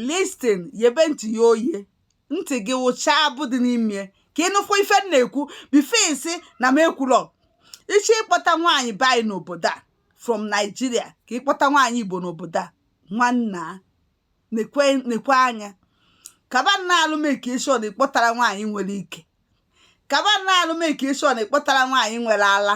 listen yebe ntị ya oye ntị gị wụcha abụ dị n'ime ka ị nụkwa ife m na-ekwu before ị sị na m ekwulọ iche ịkpọta nwaanyị be anyị n'obodo a from Nigeria ka ịkpọta nwaanyị Igbo n'obodo a nwanna nekwa anya kaba nna alụ make sure na ị kpọtara nwaanyị nwere ike kaba nna alụ make sure na ị kpọtara nwaanyị nwere ala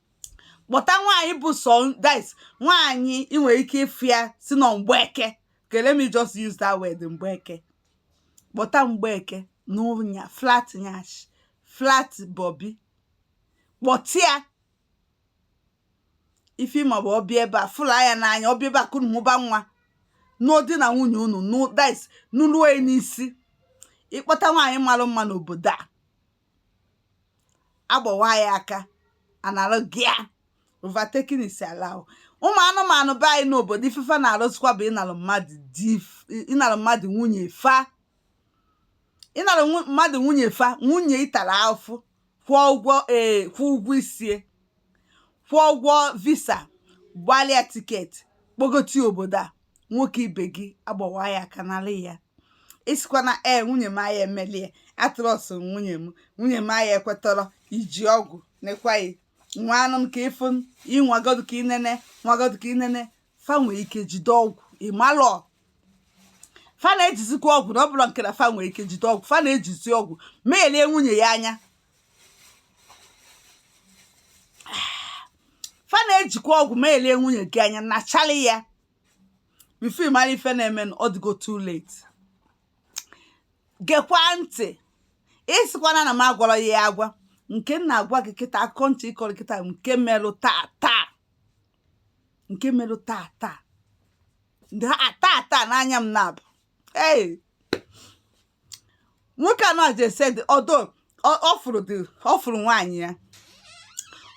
kpọta nwaanyị bụ sọ that is nwaanyị ị nwere ike ịfụ ya sị na mgbeke okay let me just use that word mgbeke kpọta mgbeke n'ụnya flat nyash flat bobi kpọta ya ife ị ma bụ ọ bịa ebe a fụ ya n'anya ọ bịa ebe a ka unu mụba nwa n'ụdị na nwunye unu that is n'ụlọ n'isi ị kpọta nwaanyị mara mma n'obodo a agbawa yị aka analụ gị ya overtaking is allowed ụmụ anụmanụ be anyị n'obodo ife fa na-alụzikwa bụ ịnalụ mmadụ di ịnalụ mmadụ nwunye fa ịnalụ nwu- mmadụ nwunye fa nwunye ị tara afụfụ kwụọ ụgwọ ee kwụọ ụgwọ isi ya kwụọ ụgwọ visa gbalụ ya ticket kpọgote obodo a nwoke ibe gị agbawa yị aka nalụ ya ị sịkwa na ee nwunye m aya emeli ya I trust nwunye m nwunye m aya ekwetọrọ iji ọgwụ nekwaghị nwa anụ m ka ịfụ ịnwagodu ka inene nwagodu ka inene fa nwee ike jide ọgwụ ị malọ fa na-ejizikwa ọgwụ na ọ bụrọ nke na fa nwee ike jide ọgwụ fa na-ejizi ọgwụ melie nwunye ya anya fa na-ejikwa ọgwụ melie nwunye gị anya nachali ya before ị mara ife na-eme na ọ dịgo too late gekwa ntị ị sịkwana na m agwarọ yị ya agwa nke m na-agwa gị kịta akụkọ m chọ ịkọrọ kịta bụ nke merụ taa taa nke merụ taa taa Ndị a- taa taa n'anya m naabọ ee nwoke a nọ ji ese dị ọdọ ọ fụrụ dị ọ fụrụ nwaanyị ya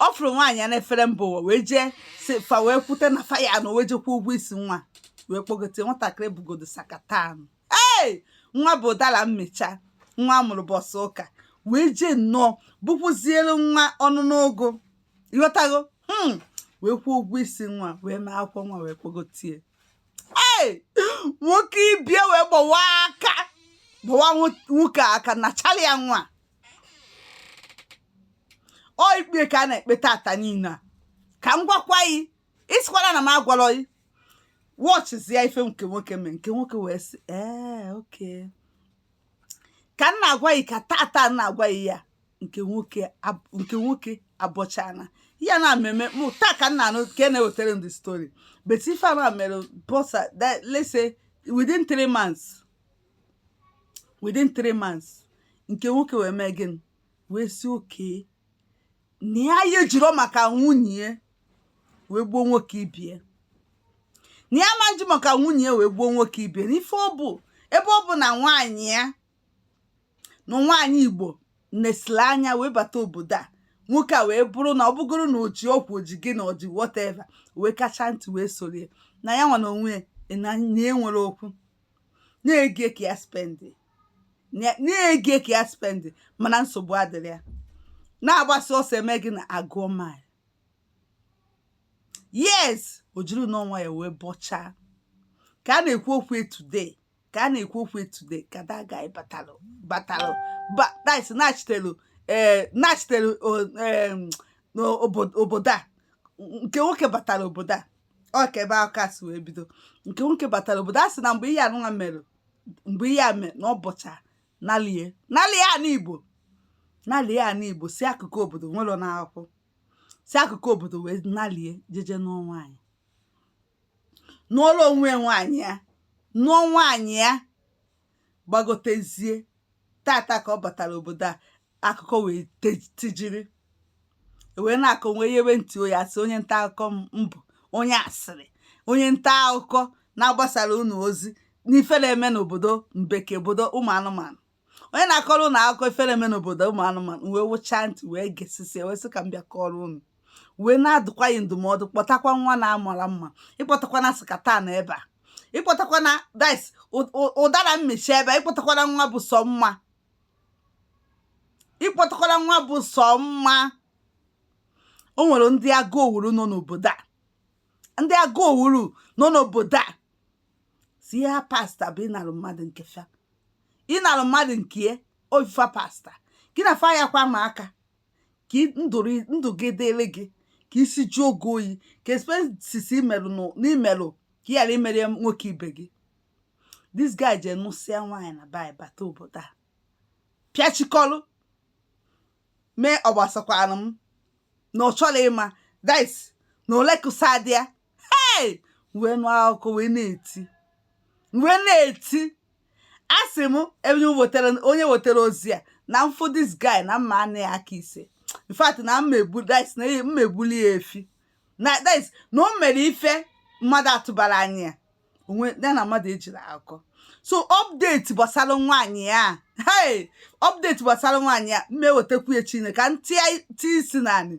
ọ fụrụ nwaanyị ya n'efere mba ụwa wee jee si fa wee kwute na fa ya na wee je kwụọ ụgwọ isi nwa wee kpọgote nwatakịrị bugodo sakatan ee nwa bụ ụdara mmịcha nwa a mụrụ ụbọsị ụka wee jee nnọọ bụkwụziere nwa ọnụ n'ogo ị ghọtago hmm. wee kwụọ ụgwọ isi nwa wee mee akwụkwọ nwa wee kpọgote ya ee nwoke ibe ya wee gbawa aka gbawa nwoke aka nachali ya nwa ọ ikpe ka a na-ekpe tata niile a ka m gwakwa yi ị sịkwana na m agwalọ yi wọchịzie ife nke nwoke mee nke nwoke wee sị ee okay ka m na-agwa gị ka tata m na-agwa gị ya nke nwoke ab- nke nwoke abọchana ya na mmemme mụ taa ka m na-anụ ka e na-ewetara m the story but ife a mere bọsa that let's say within three months within three months nke nwoke wee mee gịnị wee sị okay na ya ya ejiro maka nwunye wee gbuo nwoke ibie na ya ma eji maka nwunye wee gbuo nwoke ibie na ife ọ bụ ebe ọ bụ na nwaanyị ya na nwaanyị igbo nesiri anya wee bata obodo a nwoke a wee bụrụ na ọ bụgoro na o ji ọgwụ o ji gịnị o ji whatever wee kacha ntị wee sorie na ya nwa na onwe na enwere okwu na ego ka ya spendị na ego ka ya spendị mana nsogbu adịrọ ya na agbasịa ọsọ e mee gịnị a gụọ mile yes o jiri ọnụ onwe ya wee bọchaa ka a na-ekwu okwu today ka a na-ekwu okwu today ka that guy batalụ batalụ that's nachitelu ee eh, nachitelu eh, obodo a nke nwoke batara obodo a ọ ka ebe a ka o si wee bido nke nwoke batara obodo a sị na mgbe ihe anụnwa mere mgbe ihe a mere na ọ bụcha nalie nalie ana igbo nalie ana igbo si akụkụ obodo nwere na akwụ si akụkụ obodo wee nalie jeje nụọ nwaanyị nụọrọ onwe nwaanyị ya nụọ nwaanyị ya gbagotezie tata ka ọ batara obodo a akụkọ wee tijiri e wee na-akọ wee yewe ntị onye asị onye nta akụkọ m bụ onye asịrị onye nta akụkọ na-agbasara unu ozi n'ife na-eme n'obodo mbeke obodo ụmụ anụmanụ onye na-akọrọ ụnụ akụkọ ife na-eme n'obodo ụmụ anụmanụ wee wụchaa ntị wee gesịsịa wee sị ka m bịa kọrọ ụnụ wee na-adụkwa anyị ndụmọdụ kpọtakwa nwa na-amarọ mma ịkpọtakwana sikatan ebe a ịkpọtakwana dis ụdara mmịcha ebe a ịkpọtakwana nwa bụ sọ mma ịkpọtakwana nwa bụ sọ mma o nwere ndị agụ owuru nọ n'obodo a ndị agụ owuru nọ n'obodo a sọ ihe ha pasta bụ ịnalụ mmadụ nke fa ịnalụ mmadụ nke ya ọ ife fa pasta gị na fa ya kwa ma aka ka ndụ gị dịrị gị ka isi jụọ gị oyi ka expenses i merụ n'imerụ ka ị ghara imere nwoke ibe gị this guy je nụsịa nwaanyị na bai bata obodo a pịachikọlụ mee ọ gbasakwanụ m na ọ chọrọ ịma dis na olekusa di ya hey wee nụ akụkọ wee na-eti wee na-eti a sị m onye wetara onye wetara ozi a na m fụ this guy na m ma-ana ya aka ise in fact na m ma-egbu that is na ya- m ma-egbuli ya efi na that is na o mere ife mmadụ atụbara anya ya onwe ya na mmadụ ejiri akọ so update gbasara nwaanyị a hey update gbasara nwaanyị a m ma-ewetakwu ya chineke ka ntị isi naanị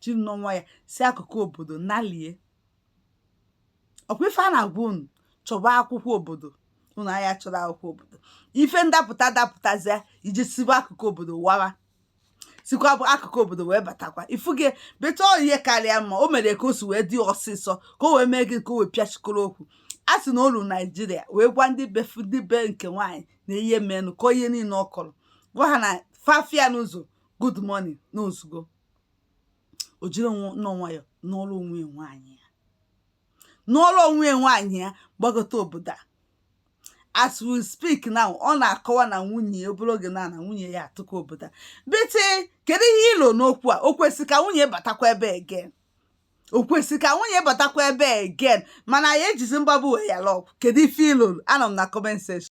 jiri nwayọ si akụkụ obodo nalie ọkwa ife a na-agwa unu chọba akwụkwọ obodo unu anya chọrọ akwụkwọ obodo ife ndapụta dapụtazịa iji siwa akụkụ obodo wawa sikwa bụ akụkụ obodo wee batakwa ifu gị beta ihe karịa mma o mere ka o si wee dị ọsịsọ ka o wee mee gị ka o wee pịachikọrọ okwu a sị na o lu naijiria wee gwa ndị befu ndị be nke nwaanyị na ihe menụ ka ihe niile ọ kọrọ gwa ha na fa fụ ya n'ụzọ good morning na o zugo o jiri nnọọ nwayọ nọrọ onwe ya nwaanyị a nọrọ onwe ya nwaanyị a gbagota obodo a as we speak now ọ na-akọwa na nwunye ya obere oge na na nwunye ya atụkọ obodo a bete kedu ihe i lo n'okwu a o kwesị ka nwunye batakwa ebe again o kwesị ka nwunye batakwa ebe again mana ya ejizi mgbagbu wee yala ọgwụ kedu ife i lo anọ m na comment section